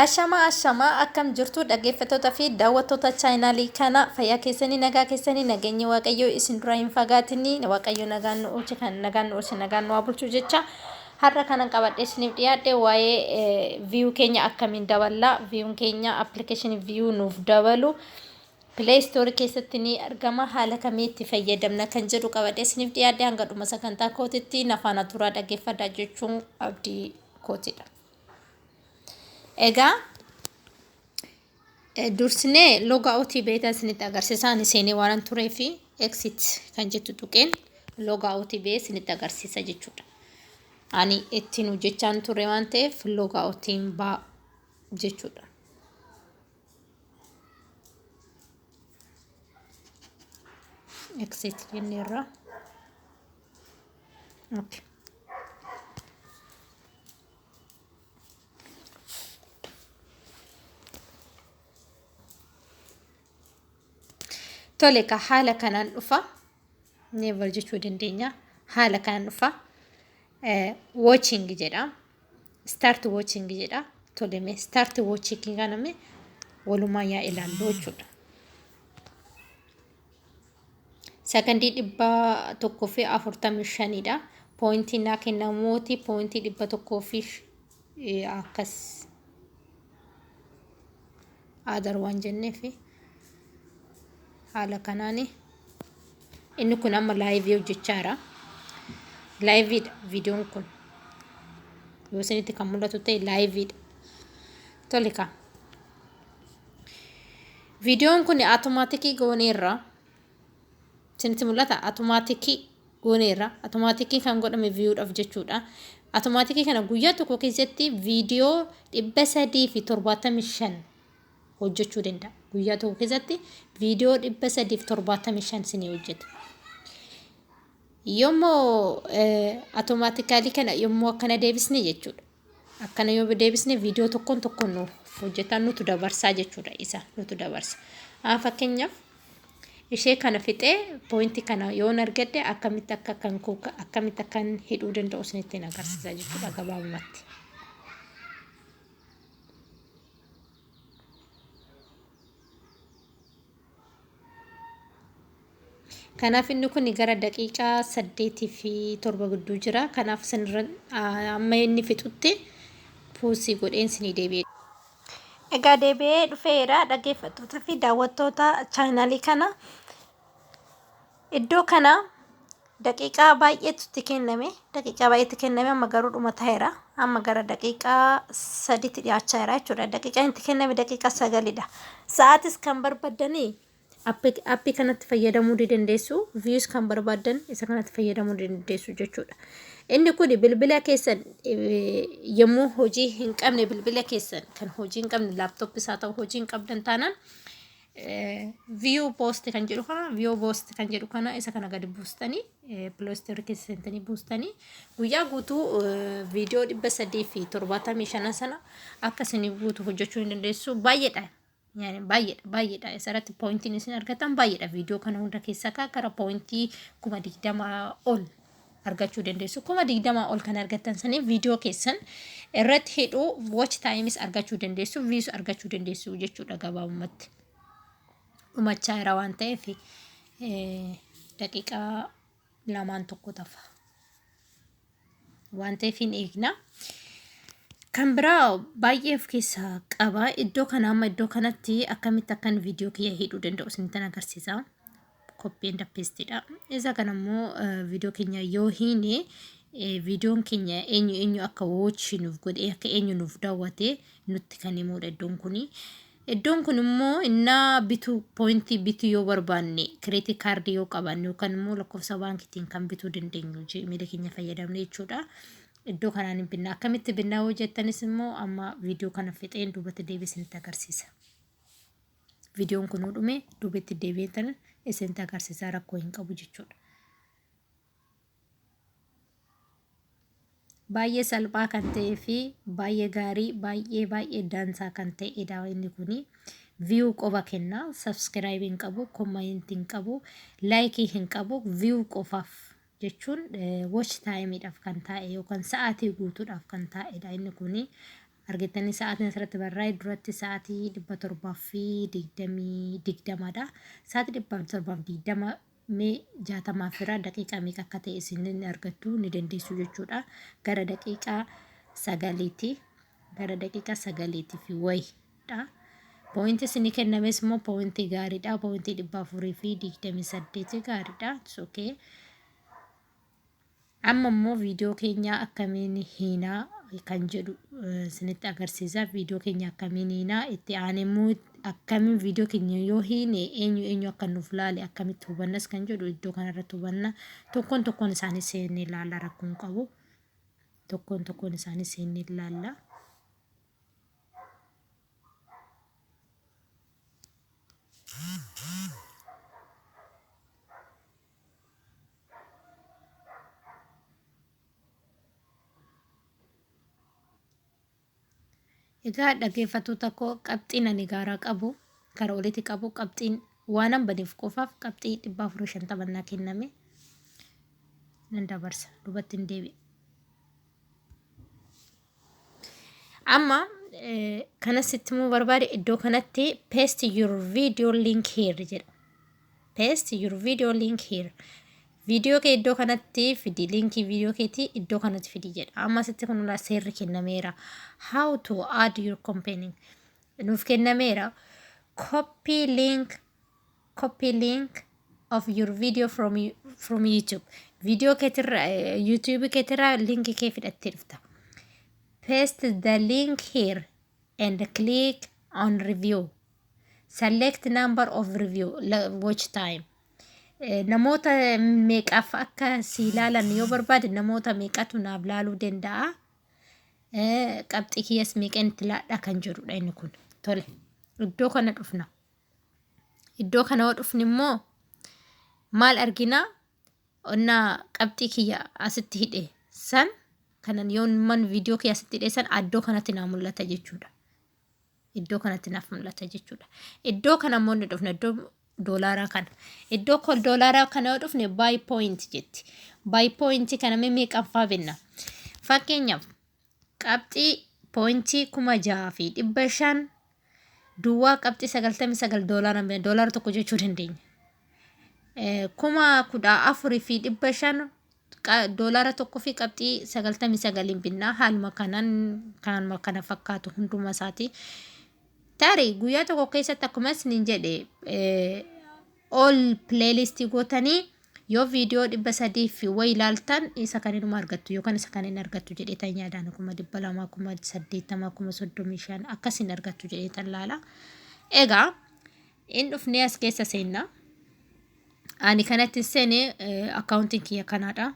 Ashamaa ashamaa akkam jirtu dhaggeeffattoota fi daawwattoota chaayinaalii kana fayyaa keessanii nagaa keessanii nageenyi waaqayyoo isin dura hin fagaatinni waaqayyo nagaan nu oolche kan nagaan nu oolche nagaan nu haa bulchu jecha har'a kanan qabadhe isiniif dhiyaadhe waa'ee viyuu keenya akkamiin daballaa viyuun keenya appilikeeshinii viyuu nuuf dabalu pilee istoorii keessatti ni argama haala kamii itti fayyadamna kan jedhu qabadhe isiniif dhiyaadhe hanga dhuma sagantaa kootitti nafaana turaa dhaggeeffadha jechuun abdii kootidha. Egaa dursinee loga outii beetaa isinitti agarsiisaan iseenii waanan turee fi exit kan jettu tuqeen loga outii bee isinitti agarsiisa jechuudha. Ani ittiin hojjechaan ture waan ta'eef loga outiin baa jechuudha. Exit jenneerra. Okay. Tole ka haala kanaan dhufa. Never jechuu dandeenya. Haala kanaan dhufa. Watching jedha. Start watching jedha. Tole mee start watching kaname walumaa yaa ilaallu jechuudha. Sakandii dhibba tokkoo fi afurtamii shanidha. Poointiin naa kennamuuti poointii dhibba tokkoo fi akkas aadar waan jenneef haala kanaan inni kun amma laayivii hojjechaa jira. Laayiviidha viidiyoon kun yoo isinitti kan mul'atu ta'e laayiviidha. Tole kaa Viidiyoon kun atomaatikii gooneerra. Isinitti mul'ata atomaatikii gooneerra. Atomaatikii kan godhame viiyuudhaaf jechuudha. Atomaatikii kana guyyaa tokko keessatti viidiyoo dhibba sadii fi torbaatamii shan hojjechuu danda'a. Guyyaa tokko keessatti viidiyoo dhibba sadii fi torbaatamii shan isinii hojjeta. Yommuu atomaatikaalii kana yommuu akkana deebisne jechuudha. Akkana yoo deebisne viidiyoo tokkoon tokkoon nuuf hojjetaa nutu dabarsaa jechuudha isa nutu dabarsa. Haa fakkeenyaaf ishee kana fixee poointii kana yoon argadhe akkamitti akka kan koo akkamitti akkan hidhuu danda'u isinitti hin agarsiisa jechuudha gabaabumatti. Kanaaf inni kun gara daqiiqaa saddeetii fi torba gidduu jira. Kanaaf isinirra amma inni fixutti puusii godheen isinii deebi'e. Egaa deebi'ee dhufeera dhaggeeffattoota fi daawwattoota chaayinaalii kana. Iddoo kana daqiiqaa baay'eetu itti kenname. Daqiiqaa baay'eetti kenname amma garuu dhuma ta'eera. Amma gara daqiiqaa sadiitti dhiyaachaa jira jechuudha. Daqiiqaan itti kenname daqiiqaa sagalidha. Sa'aatis kan barbaddanii appii kanatti fayyadamuu ni dandeessu. Views kan barbaaddan isa kanatti fayyadamuu ni dandeessu jechuudha. Inni kun bilbila keessan yommuu hojii hin qabne bilbila keessan kan hojii hin qabne laaptooppis haa ta'u hojii hin qabdan taanaan view post kan jedhu kana view post kan jedhu kana isa kana gadi buustanii play store keessa seentanii buustanii guyyaa guutuu viidiyoo dhibba sadii fi torbaatamii shana sana akka isinii guutu hojjechuu ni dandeessu baay'eedha yani baay'eedha baay'eedha isarratti poointiin isin argatan baay'eedha viidiyoo kana hunda keessaa kaa gara poointii kuma digdamaa ol argachuu dandeessu. Kuma digdamaa ol kan argattan saniif viidiyoo keessan irratti hidhuu watch times argachuu dandeessu, views argachuu dandeessu jechuudha gabaabumatti. Dhumachaa jira waan ta'eef eh, daqiiqaa lamaan tokko tafa. Waan ta'eef hin eegna. Kan biraa baay'ee of keessaa qaba. Iddoo kana amma iddoo kanatti akkamitti akkan viidiyoo kiyya hidhuu danda'u isinitti agarsiisa. copy and paste dha. Isa kana immoo viidiyoo keenya yoo hiine viidiyoon keenya eenyu eenyu akka watch nuuf godhee akka eenyu nuuf daawwate nutti kan himudha iddoon kuni. Iddoon kun immoo innaa bituu poointii bituu yoo barbaanne kireetii kaardii yoo qabaanne yookaan immoo lakkoofsa baankiitiin kan bituu dandeenyu jiimiila keenya fayyadamne jechuudha. Iddoo kanaan hin binnaa akkamitti binnaa yoo jettanis immoo amma viidiyoo kana fixeen duubatti deebisee nutti agarsiisa. viidiyoon kun dhumee duubetti deebi'een tana isinitti agarsiisaa rakkoo hin qabu jechuudha. Baay'ee salphaa kan ta'ee fi baay'ee gaarii baay'ee baay'ee dansaa kan ta'edha inni kuni. Viyuu qofa kenna. Sabskiraayibii hin qabu, koomayentii hin qabu, laayikii hin qabu, viyuu qofaaf jechuun watch time dhaaf kan taa'e yookaan sa'aatii guutuudhaaf kan taa'edha inni kuni. Argittanii sa'aatiin asirratti barraa'e duratti sa'aatii 720 digdama dha. Sa'aatii 720 mee 60 fira daqiiqaa meeqa akka ta'e isin ni argattu ni dandeessu jechuudha. Gara daqiiqaa sagaliiti. Gara daqiiqaa sagaliiti fi wayi dha. Point isinii kennames immoo point gaarii dha. Point 428 gaarii dha. It's okay. Amma immoo viidiyoo keenya akkamiin hiinaa kan jedhu eh, isinitti agarsiisa. Viidiyoo keenya akkamiin hiinaa itti aanee immoo akkamiin viidiyoo keenya yoo hiine eenyu eenyu akka nuuf laale akkamitti hubannas kan jedhu iddoo kanarratti hubanna. Tokkoon tokkoon isaanii seennee ilaalla rakkoon qabu. Tokkoon tokkoon isaanii seennee ilaalla. Egaa dhaggeeffattoota koo qabxiin ani gaaraa qabu gara olitti qabu qabxiin waanan badeef qofaaf qabxii dhibba afurii shantama naa kenname nan dabarsa dubattiin deebi'a. Amma eh, kana sitti immoo barbaade iddoo kanatti paste your video link here jedha. Paste your video link here. Viidiyoo kee iddoo kanatti fidi liinkii viidiyoo keetii iddoo kanatti fidi jedha. Amma sitti kun ulaa seerri kennameera. How to add your company nuuf kennameera. Copy link Copy link of your video from, from YouTube. Video ketirra, YouTube ketirra link kee fidhattee dhufta. Paste the link here and click on review. Select number of review, watch time. Namoota meeqaaf akka si ilaalan yoo barbaade namoota meeqatu naaf laaluu danda'a. Qabxii kiyyas meeqan itti laadhaa kan jedhudha inni kun. Tole, iddoo kana dhufna. Iddoo kana yoo dhufne immoo maal arginaa? Onnaa qabxii kiyya asitti hidhe san kanan yoon man viidiyoo kiyya asitti hidhe san addoo kanatti naa mul'ata jechuudha. Iddoo kanatti naaf mul'ata jechuudha. Iddoo kana immoo ni dhufna iddoo doolaaraa kana. Iddoo kol doolaaraa kana yoo dhufne baay pooyinti jetti. Baay pooyinti kana mee meeqaffaa binna? Fakkeenyaaf qabxii, point, 6500 duwwaa qabxii 99 doolaara hin bine doolaara tokko jechuu dandeenya. Eh, kuma kudha afur fi dhibba shan qa- doolaara tokko fi qabxii 99 hin binna haaluma kanan kanuma kana fakkaatu hunduma isaati. Tarii guyyaa tokko keessatti akkuma isiniin jedhe eh, all playlist gootanii yoo viidiyoo dhibba sadii fi wayi ilaaltan isa kan inuma argattu yookaan isa kan hin argattu jedheetan yaadaan kuma dhibba lamaa kuma saddeettamaa kuma soddomii shan akkas hin argattu jedheetan laala. Egaa in dhufnee as keessa seenna. Ani kanatti seene akkaawuntiin kiyya kanaadha.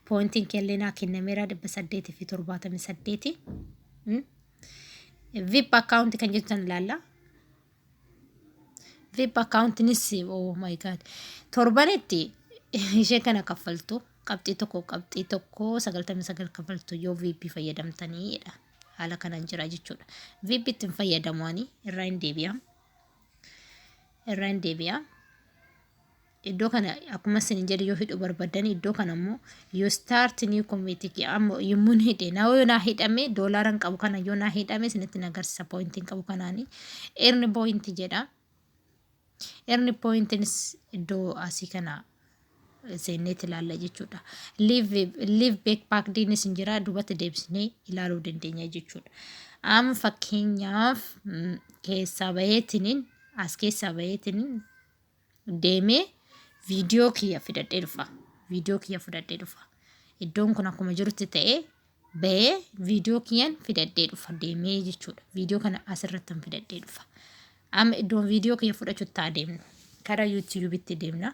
Poointiin keellee naa kennameera dhibba saddeetii fi torbaatamii saddeeti. Vip akkaawuntii kan jettan laalla. vip akkaawuntinis oh my god torbanitti ishee kana kaffaltu qabxii tokko qabxii tokko sagaltamii sagal kaffaltu yoo vip fayyadamtaniidha haala kanaan jira jechuudha vip ittiin fayyadamu ani irraa hin deebi'a irraa hin deebi'a iddoo kana akkuma isin hin jedhe yoo hidhuu barbaddan iddoo kana immoo yoo start new committee amma yommuun hidhe na yoo naa hidhame doolaaran qabu kana yoo naa hidhame isinitti na agarsiisa poointiin qabu kanaani eerni poointi jedha eerni poointiinis iddoo asii kana seenneetti ilaalla jechuudha liiv beek paakdiinis hin jira duubatti deebisnee ilaaluu dandeenya jechuudha amma fakkeenyaaf keessaa baheetiniin as keessaa baheetiniin deemee viidiyoo kiyya fidadhee dhufa. Viidiyoo kiyya fudhadhee dhufa. Iddoon kun akkuma jirutti ta'ee bahee viidiyoo kiyyan fidadhee dhufa deemee jechuudha. Viidiyoo kana asirrattan fidadhee dhufa. Amma iddoon viidiyoo kiyya fudhachutti haa deemnu. Karaa yuutiyuubitti deemna.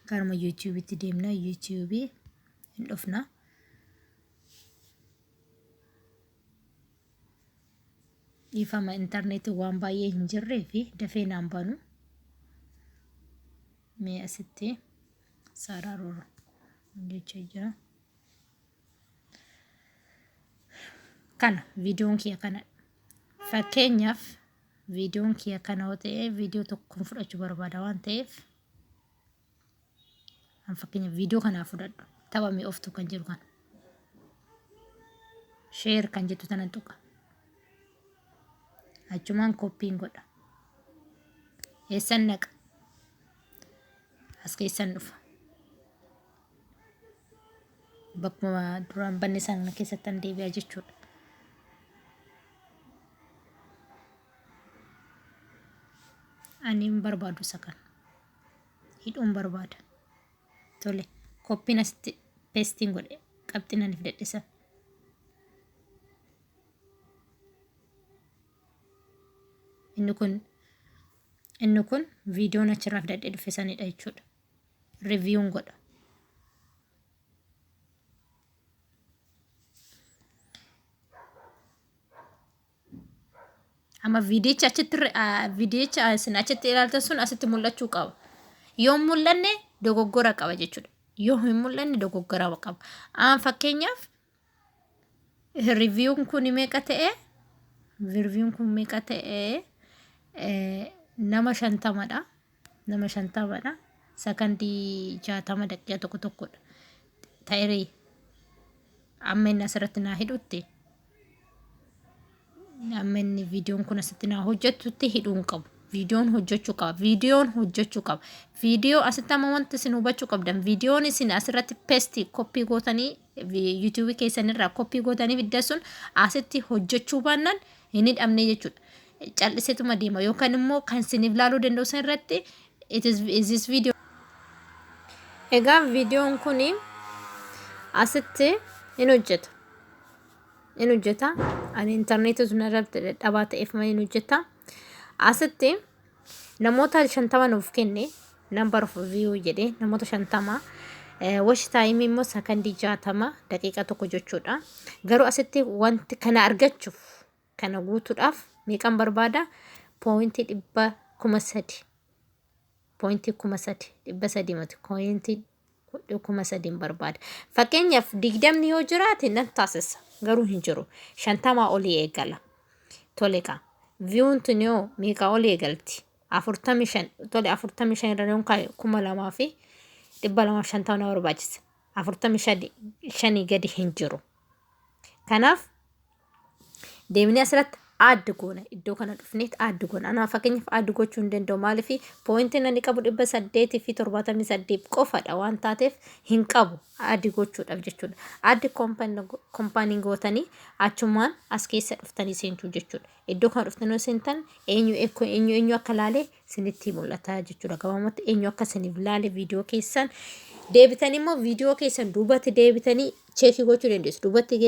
Karuma yuutiyuubitti deemna. Yuutiyuubii hin dhufna. Dhiifama intarneetiin waan baay'ee hin jirree fi dafee naan banu. Mee asitti sararuu jecha jira. Kana viidiyoon kiyya kana fakkeenyaaf viidiyoon kiyya kana yoo ta'e viidiyoo tokkoon fudhachuu barbaada waan ta'eef. An fakkeenyaaf viidiyoo kanaa fudhadhu. Tapha mi'ooftu kan jedhu kana. Sheer kan jettu tanan tuqa. Achumaan koppiin godha. Eessan naqa. As keessan dhufa. Bakkuma duraan banne sana keessatti an deebi'a jechuudha. Ani hin barbaadu isa kana. hidhuun barbaada. Tole, koppiin asitti pestiin godhe qabxiin ani fidadhe san. Inni kun inni kun viidiyoon achirraa fidadhe dhufe sanidha jechuudha. Riviiyuun godha. Amma viidiyicha achitti viidiyicha isin achitti ilaaltan sun asitti mul'achuu qaba. Yoo mul'anne dogoggora qaba jechuudha. Yoo hin mul'anne dogoggora qaba. Aan fakkeenyaaf riiviyuun kun meeqa ta'e? Riiviyuun kun meeqa ta'e? Nama shantamadha. Nama shantamadha. Sakandii jaatama daqiiqa tokko tokkodha. Ta'irii amma inni asirratti naa hidhutti amma inni viidiyoon kun asitti naa hojjetutti hidhuu hin qabu. Viidiyoon hojjechuu qaba. Viidiyoon hojjechuu qaba. Viidiyoo asitti amma wanti isin hubachuu qabdan viidiyoon isin asirratti pesti koppii gootanii YouTube keessan irraa koppii gootanii fiddan sun asitti hojjechuu baannaan hin hidhamne jechuudha. Cal'iseetuma deema yookaan immoo kan isiniif laaluu danda'u san irratti it is, is this video Egaa viidiyoon kun asitti hin hojjeta. Hin hojjeta. Ani intarneetii sun irratti dadhabaa ta'eef malee hin hojjeta. Asitti namoota shantama nuuf kenne number of view jedhee namoota shantama wash time immoo sakandii jaatama daqiiqa tokko jechuudha garuu asitti wanti kana argachuuf kana guutuudhaaf meeqan barbaada poointii dhibba kuma sadi poointii kuma sadi dhibba sadii mati poointii godhee kuma sadiin barbaada. Fakkeenyaaf digdamni yoo jiraate nan taasisa garuu hin jiru. Shantamaa olii eegala. Tole kaa. Viyuun tun yoo meeqaa olii eegalti? Afurtamii shan tole afurtamii shan irra yoon kaa'e kuma lamaa fi dhibba lamaa fi shantama na barbaachisa. Afurtamii shani- shanii gadi hin jiru. Kanaaf deemnee asirratti add goona iddoo kana dhufneet add goona anaa fakkeenyaaf add gochuu hin danda'u maaliif poointiin ani qabu dhibba saddeetii fi torbaatamii saddeet qofadha waan taateef hin qabu add gochuudhaaf jechuudha add kompaanii gootanii achumaan as keessa dhuftanii seentuu jechuudha iddoo kana dhuftanii yoo seentan eenyu eekko eenyu eenyu akka laalee sinitti mul'ata jechuudha gabaamatti eenyu akka siniif laale viidiyoo keessan deebitanii immoo viidiyoo keessan duubatti deebitanii cheekii gochuu dandeessu. Duubatti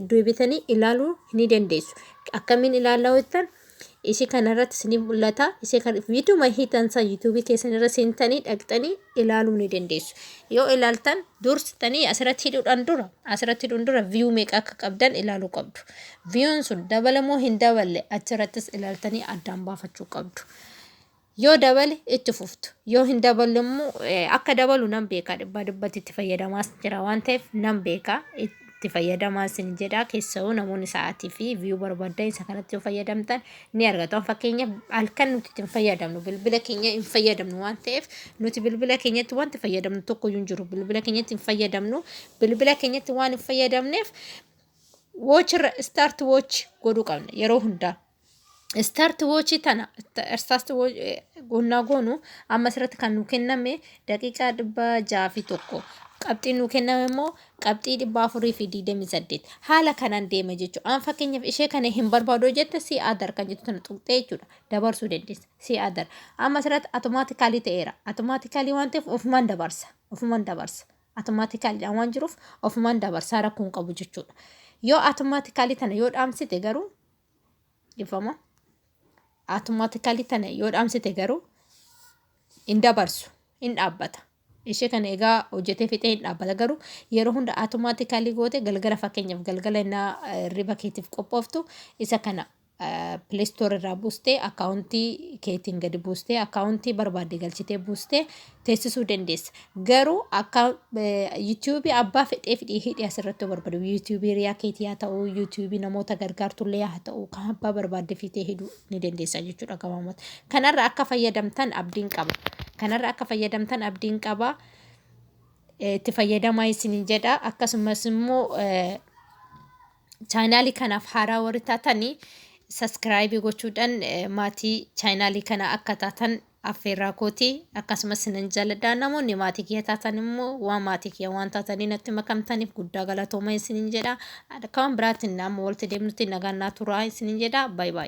deebitanii ilaaluu ni dandeessu. Akkamiin ilaalaa hojjetan ishee kanarratti isiniif mul'ata. Ishee kan viidiyuma hiitan san yuutuubii keessan irra seentanii dhaqxanii ilaaluu ni dandeessu. Yoo ilaaltan dursitanii asirratti hidhuudhaan dura asirratti hidhuun dura viyuu meeqa akka qabdan ilaaluu qabdu. Viyuun sun dabalamoo hin daballe achirrattis ilaaltanii addaan baafachuu qabdu. Yoo dabale itti fuftu. Yoo hin daballe immoo akka dabalu nan beeka dhibbaa dhibbatti itti fayyadamaas jira waan ta'eef nan beeka itti fayyadamaa isin jedha keessawuu namoonni sa'aatii fi viyuu barbaadan isa kanatti yoo fayyadamtan ni argatu fakkeenyaaf halkan nuti itti hin fayyadamnu bilbila keenya hin fayyadamnu waan ta'eef nuti bilbila keenyatti wanti fayyadamnu tokko iyyuu hin jiru bilbila keenyatti hin fayyadamnu bilbila keenyatti waan hin fayyadamneef woochirra istaarti woochi godhuu qabna yeroo hundaa Start watch tana start watch gonnaa goonu amma asirratti kan nu kenname daqiiqaa dhibba jaha fi tokko qabxii nu kenname immoo qabxii dhibba afurii fi digdamii saddeet haala kanaan deema jechuudha. Aan fakkeenyaaf ishee kana hin barbaadu jette si adar kan jettu tana tuqxee jechuudha dabarsuu dandeessa si adar amma asirratti automaatikaalii ta'eera automaatikaalii waan ta'eef ofumaan dabarsa ofumaan dabarsa automaatikaalidhaan waan jiruuf ofumaan dabarsaa rakkoon qabu jechuudha. Yoo automaatikaalii tana yoo dhaamsite garuu dhifama automatically tana yoo dhaamsite garuu hin dabarsu hin dhaabbata ishee kana egaa hojjetee fixee hin dhaabbata garuu yeroo hunda automatically goote galgala fakkeenyaaf galgala innaa eh, riba keetiif qophooftu isa kana pileestoor irraa buustee akkaawuntii keetiin gadi buustee akkaawuntii barbaadde galchitee buustee teessisuu dandeessa. Garuu akka yuutuubii abbaa fedhee fidhii hidhii asirratti barbadu yuutuubii riyaa keetii haa ta'u yuutuubii namoota gargaartullee haa ta'u kan abbaa barbaadde fiitee hidhuu ni dandeessa jechuudha gabaabumatti. Kanarra akka fayyadamtan abdiin qaba. Kanarra akka fayyadamtan abdiin qaba. Itti fayyadamaa isiniin jedha akkasumas immoo Chaayinaalii kanaaf haaraa warri taatan saskiraayibii gochuudhaan maatii chaayinaalii kana akka taatan affeerraa kooti akkasumas sinan jaaladha namoonni maatii kiyya taatan immoo waan maatii kiyya waan taatanii natti makamtaniif guddaa galatooma isinin jedha akka waan biraatiin amma walitti deemnutti nagaan naa turaa isinin jedha baay'ee.